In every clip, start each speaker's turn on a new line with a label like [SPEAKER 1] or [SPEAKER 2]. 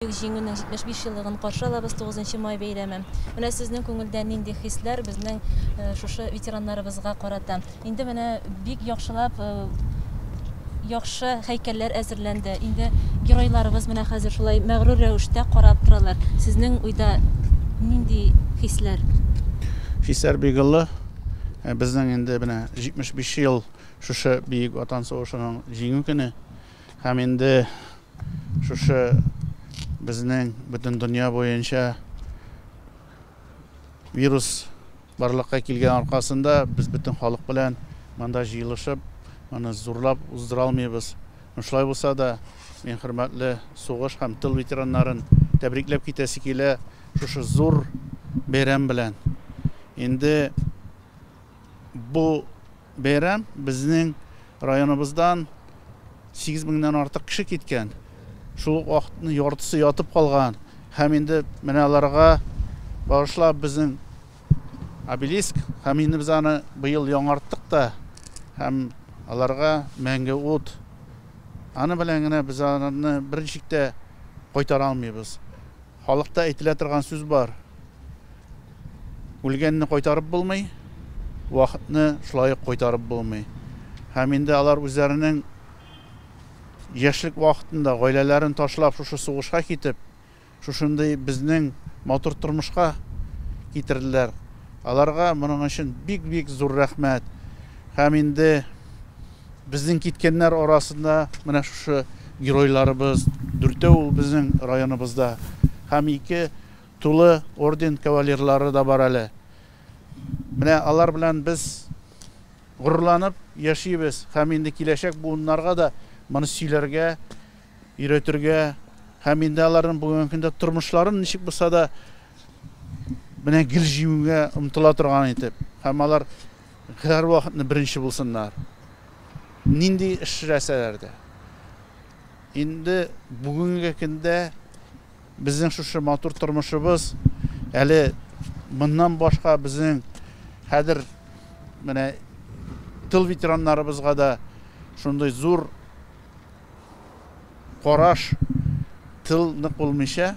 [SPEAKER 1] Бөек Җиңүнең 75 еллыгын каршы алабыз, 9 нчы май бәйрәме. Менә сезнең күңелдә нинди хисләр безнең шушы ветераннарыбызга карата? Инде менә бик яхшылап яхшы һәйкәлләр әзерләнде. Инде геройларыбыз менә хәзер шулай мәгърур рәвештә карап торалар. Сезнең уйда нинди хисләр? Хисләр
[SPEAKER 2] бик олы. Безнең инде менә 75 ел шушы Бөек Ватан сугышының Җиңү көне. Һәм инде шушы безнең бөтен дөнья буенча вирус барлыкка килгән аркасында без бөтен халык белән монда җыелышып, моны зурлап уздыра алмыйбыз. Шулай булса да, мин хөрмәтле сугыш һәм тыл ветераннарын тәбрикләп китәсе килә шушы зур бәйрәм белән. Инде бу Бәйрәм безнең районыбыздан сигез меңнән артык кеше киткән, шул ук вакытны яртысы ятып калган һәм инде менә аларга багышлап безнең обелиск һәм инде без аны быел яңарттык та һәм аларга мәңге ут. Аны белән генә без аларны берничек тә кайтара алмыйбыз. Халыкта әйтелә торган сүз бар, Үлгәнне кайтарып булмый, вакытны шулай ук кайтарып булмый. Һәм инде алар үзләренең яшьлек вакытында гаиләләрен ташлап, шушы сугышка китеп, шушындый безнең матур тормышка китерделәр. Аларга моның өчен бик-бик зур рәхмәт. Һәм инде. Безнең киткәннәр арасында менә шушы геройларыбыз, дүртәү ул безнең районыбызда һәм ике тулы орден кавалерлары да бар әле. Менә алар белән без горурланып яшибез һәм инде киләчәк буыннарга да моны сөйләргә, өйрәтергә һәм инде аларның бүгенге көндә тормышларын ничек булса да менә гел җиңүгә омтыла торган итеп һәм алар Һәрвакытны беренче булсыннар, нинди эшләсәләр дә. Инде бүгенге көндә безнең шушы матур тормышыбыз, әле моннан башка безнең хәзер менә тыл ветераннарыбызга да шундый зур караш, тыл нык булмыйча,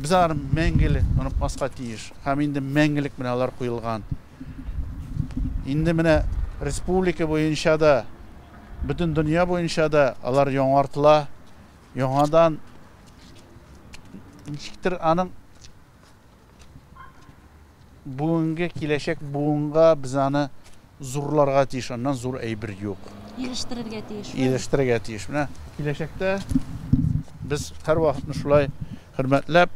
[SPEAKER 2] Без аларны мәңгеле онытмаска тиеш. Һәм инде мәңгелек менә алар куелган. Инде менә республика буенча да, бөтен дөнья буенча да алар яңартыла. Яңадан ничектер аның бүгенге киләчәк буынга без аны Зурларга тиеш, аннан зур әйбер юк. Ирештерергә
[SPEAKER 1] тиеш. Ирештерергә тиеш. Менә
[SPEAKER 2] киләчәктә без һәрвакытны шулай хөрмәтләп,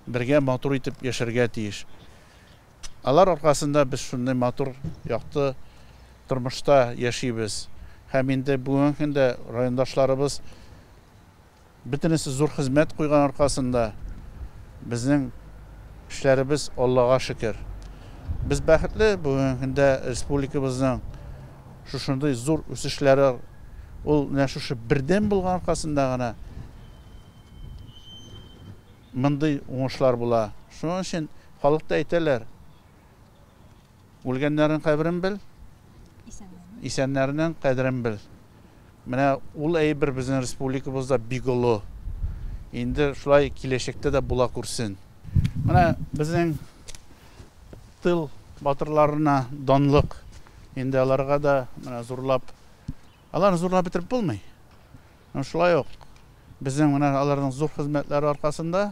[SPEAKER 2] бергә матур итеп яшәргә тиеш. Алар аркасында без шундый матур, якты тормышта яшибез. Һәм инде бүгенге көндә райондашларыбыз Бөтенесе зур хезмәт куйган аркасында безнең эшләребез, Аллага шөкер. Без бәхетле, бүгенге көндә республикабызның шушындый зур үсешләре ул менә шушы бердәм булган аркасында гына мондый уңышлар була. Шуның өчен халыкта әйтәләр, Үлгәннәрнең каберен бел, исәннәрнең кадерен бел. Менә ул әйбер безнең республикабызда бик олы. Инде шулай киләчәктә дә була күрсен. Менә безнең тыл батырларына данлык. Инде аларга да менә зурлап, аларны зурлап бетереп булмый. Шулай ук безнең менә аларның зур хезмәтләре аркасында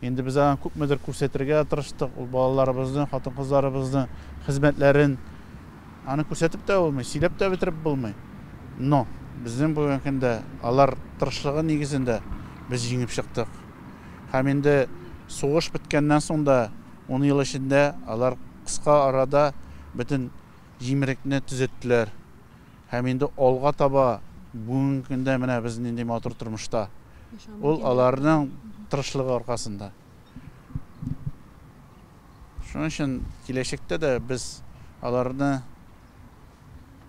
[SPEAKER 2] Инде без аңа күпмедер күрсәтергә тырыштык, ул балаларыбызны, хатын-кызларыбызны, хезмәтләрен. Аны күрсәтеп тә булмый, сөйләп тә бетереп булмый. Но безнең бүгенге көндә алар тырышлыгы нигезендә без җиңеп чыктык. Һәм инде сугыш беткәннән соң да, ун ел эчендә алар кыска арада бөтен Җимерекне төзеттеләр. Һәм инде алга таба, бүгенге көндә менә без нинди матур тормышта. Ул аларның тырышлыгы аркасында. Шуның өчен киләчәктә дә без аларны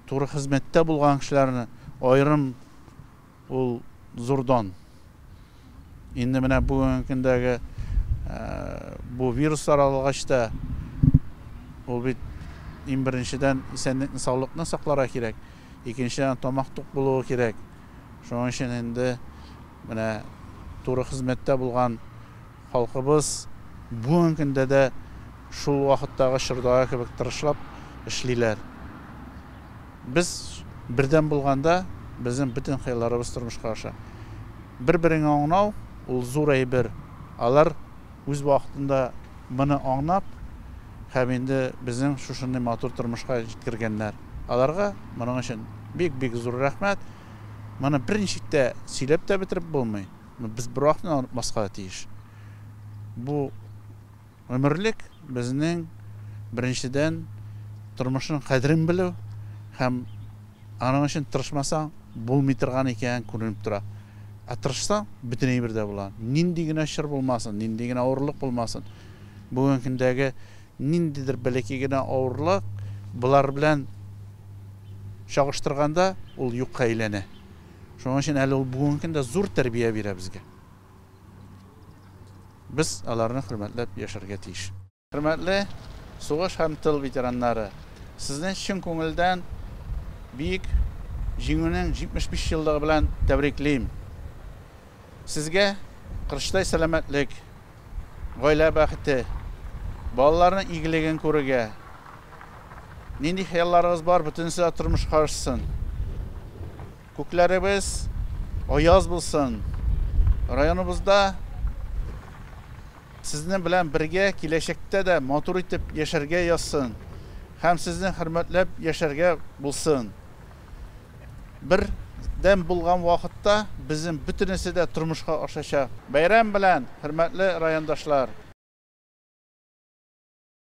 [SPEAKER 2] туры хезмәттә булган кешеләрне аерым Ул зур дан. Инде менә бүгенге көндәге бу вирус таралгач та, ул бит иң беренчедән исәнлекне, саулыкны сакларга кирәк, икенчедән тамак тук булуы кирәк. Шуның өчен инде менә туры хезмәттә булган Халкыбыз бүген көндә дә шул вакыттагы чордагы кебек тырышлап эшлиләр. Без бердәм булганда, безнең бөтен хыялларыбыз тормышка аша. Бер-береңә аңнау, ул зур әйбер. Алар үз вакытында моны аңнап һәм инде безнең шушындый матур тормышка җиткергәннәр. Аларга моның өчен бик-бик зур рәхмәт. Моны берничек тә сөйләп тә бетереп булмый. Без бер акны онытмаска тиеш. Бу гомерлек безнең, беренчедән, тормышның кадерен белү һәм аның өчен тырышмасаң, булмый торган икән, күренеп тора. Ә тырышсаң, бөтен әйбер дә була. Нинди генә чор булмасын, нинди генә авырлык булмасын. Бүгенге көндәге ниндидер бәләкәй генә авырлык болар белән чагыштырганда, ул юкка әйләнә. Шуның өчен әле ул бүгенге көндә зур тәрбия бирә безгә. Без аларны хөрмәтләп яшәргә тиеш. Хөрмәтле сугыш һәм тыл ветераннары! Сезне чын күңелдән Бөек Җиңүнең 75 еллыгы белән тәбриклим! Сезгә кырыштай сәламәтлек, гаилә бәхете, балаларның игелеген күрергә. Нинди хыялларыгыз бар, бөтенесе дә тормышка ашсын. Күкләребез аяз булсын. Районыбызда сезнең белән бергә киләчәктә дә матур итеп яшәргә язсын һәм сезне хөрмәтләп яшәргә булсын. Бердәм булган вакытта безнең бөтенесе дә тормышка ашачак. Бәйрәм белән, хөрмәтле райондашлар!